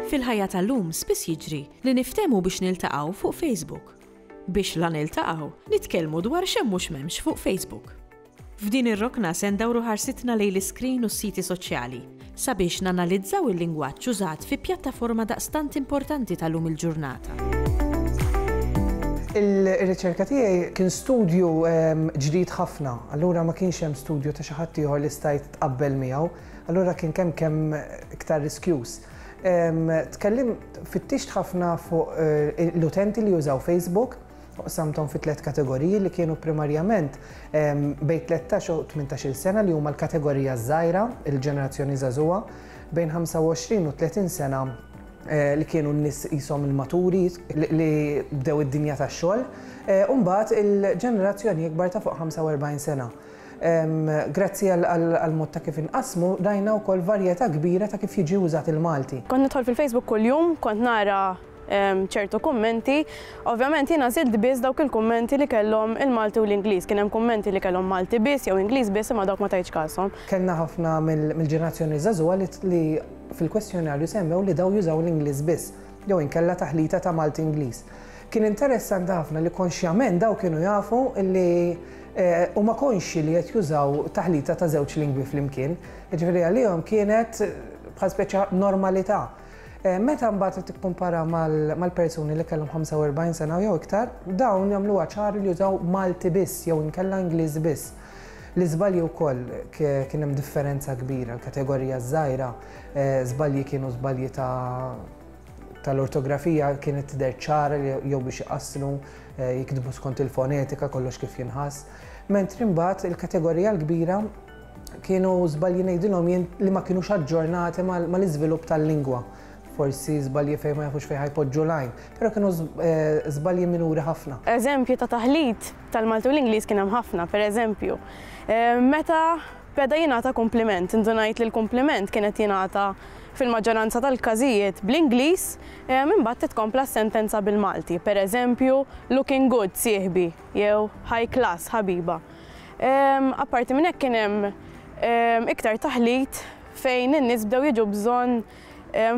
Fil-ħajja tal-lum spiss jiġri li niftehmu biex niltaqgħu fuq Facebook. Biex la niltaqgħu, nitkellmu dwar x'hemm u x'm'hemmx fuq Facebook. F'din ir-rokna se ndawru ħarsitna lejn l-iskrin u s-siti soċjali, sabiex nanalizzaw il-lingwaġġ użat fi pjattaforma daqstant importanti ta' lum il-ġurnata. Ir-riċerka tiegħi kien studju ġdid ħafna, allura ma kienx hemm studju ta' xi ħadd ieħor li stajt tqabbel miegħu, allura kien kemm kemm iktar riskjuż. Tkellimt, fittixt ħafna fuq l-utenti li jużaw Facebook, Qsamthom fi tliet kategoriji li kienu primarjament bejn tlettax u tmintax-il sena li huma l-kategorija ż-żgħira, il-ġenerazzjoni żagħżugħa, bejn ħamsa u għoxrin u tletin sena li kienu n-nies qishom il-maturi li bdew id-dinja tax-xogħol, u mbagħad il-ġenerazzjoni ikbar ta' fuq ħamsa u erbgħin sena. Grazzi għall-mod ta' kif inqassmu rajna wkoll varjetà kbira ta' kif jiġi użat il-Malti. Kont nidħol fil-Facebook kuljum, kont nara ċertu kummenti. Ovvjament jiena żidt biss dawk il-kummenti li kellhom il-Malti u l-Ingliż. Kien hemm kummenti li kellhom Malti biss jew Ingliż biss imma dawk ma tajtx kashom. Kellna ħafna mill-ġenerazzjoni żagħżugħa li fil-kwestjonarju semmew li dawn jużaw l-Ingliż biss jew inkella taħlita ta' Malti-Ingliż. Kien interessanti ħafna li konxjament dawn kienu jafu li huma konxji li qed jużaw taħlita ta' żewġ lingwi flimkien. Jiġifieri għalihom kienet bħal speċi ta' normalità. Eh, meta mbagħad tikkumpara mal-persuni li kellhom 45 sena jew iktar, dawn jagħmlu ċar li jużaw Malti biss jew inkella Ingliż biss. L-iżbalji wkoll kien hemm differenza kbira, l-kategorija żgħira, eh, żbalji kienu żbalji ta' tal-ortografija kienet tidher ċara jew biex iqasslu eh, jiktbu skont il-fonetika kollox kif jinħass. Mentri mbagħad il-kategorija l-kbira Kienu żbalji ngħidilhom jien li ma kinux aġġornati mal-iżvilupp tal-lingwa. Forsi żbalji fejn ma jafux fejn ħa jpoġġu l-għajn, però kienu żbalji minuri ħafna. Eżempji ta' taħlit tal-Malti u l-Ingliż kien hemm ħafna, pereżempju, meta beda jingħata kumpliment, indunajt li l-kumpliment kien qed jingħata fil-maġġoranza tal-każijiet bl-Ingliż, imbagħad titkompla s-sentenza bil-Malti, pereżempju, looking good sieħbi jew high class ħabiba. Apparti minn hekk kien hemm iktar taħlit fejn in-nies bdew jiġu bżonn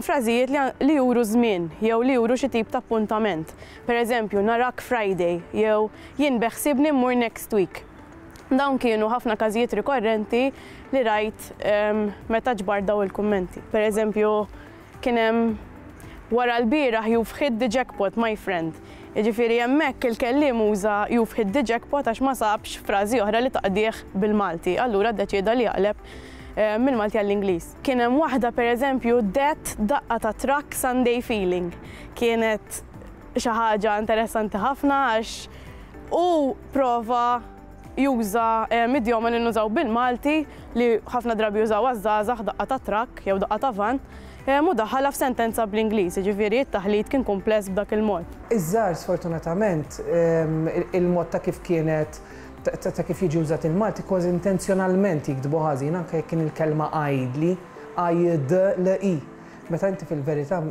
frażijiet li juru żmien jew li juru xi tip ta' appuntament. Pereżempju, narak Friday jew jien beħsiebni mmur next week. Dawn kienu ħafna każijiet rikorrenti li rajt meta ġbart dawn il-kummenti. Pereżempju, Kien hemm wara lbieraħ you've hit the jackpot my friend. Jiġifieri hemmhekk il-kelliem uża you've hit the jackpot għax ma sabx frażi oħra li taqdih bil-Malti, allura ddeċieda li jaqleb mill-Malti għall-Ingliż. Kien hemm waħda pereżempju that daqqa ta' trakk Sunday feeling. Kienet xi ħaġa interessanti ħafna għax hu prova juża idjomen li nużaw bil-Malti li ħafna drabi jużawha ż-żgħażagħ, daqqa ta' trakk jew daqqa ta' vann, u daħħalha f'sentenza bl-Ingliż, jiġifieri t-taħlit kien kumpless b'dak il-mod. Iż-żgħar sfortunatament il-mod ta' kif kienet ta' kif jiġi użat il-Malti kważi intenzjonalment jiktbu ħażin anke jekk kien il-kelma għaidli, għajd-l-i, meta inti fil-verità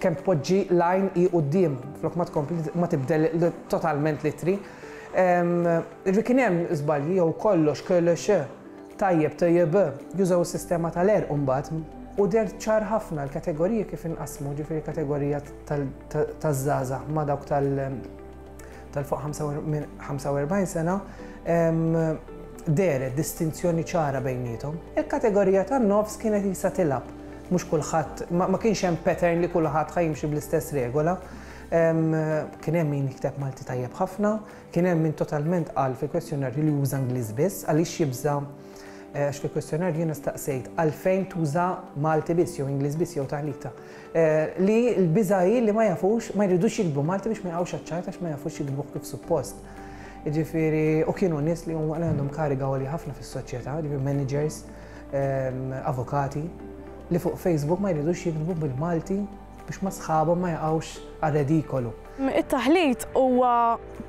Kemm tpoġġi l-għajn hi quddiem flok ma tkompli ma tibdel totalment l-ittri. Ġifieri kien hemm żbalji jew kollox KLX tajjeb TJB jużaw is-sistema tal-għerq imbagħad u deher ċar ħafna l-kategoriji kif inqasmu ġifieri kategorija taż-żgħażagħ ma' dawk tal tal-fuq 45 sena deret distinzjoni ċara bejnietom. Il-kategorija tan-nofs kienet jisa tilab. Mhux kulħadd, ma kienx hemm pattern li kulħadd ħajimxi bl-istess regola. Kien hemm min jikteb Malti tajjeb ħafna, kien hemm min totalment qal fil-kwestjonarju li juża Ingliż biss, għaliex jibża' għax fil-kwestjonarju jiena staqsejt għalfejn tuża Malti biss jew Ingliż biss jew taħlita. Li l-biża' hi li ma jafux, ma jridux jiktbu Malti biex ma jaqgħux għaċ-ċajt għax ma jafux jiktbuh kif suppost. Jiġifieri, u kienu nies li huma li għandhom kariga għolja ħafna fis-soċjetà, jiġifieri managers, avukati, li fuq Facebook ma jridux jiktbu bil-Malti biex ma sħabhom ma jaqgħux għar-redikolu. It-taħlit huwa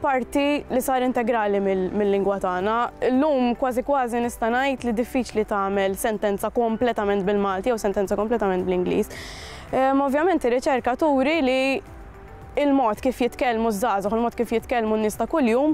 parti li sar integrali mill-lingwa tagħna. Illum kważi kważi nista' ngħid li diffiċli tagħmel sentenza kompletament bil-Malti jew sentenza kompletament bl-Ingliż. Ehm, ovvjament ir-riċerka turi li il-mod kif jitkellmu ż-żgħażagħ, il-mod kif jitkellmu n-nies ta' kuljum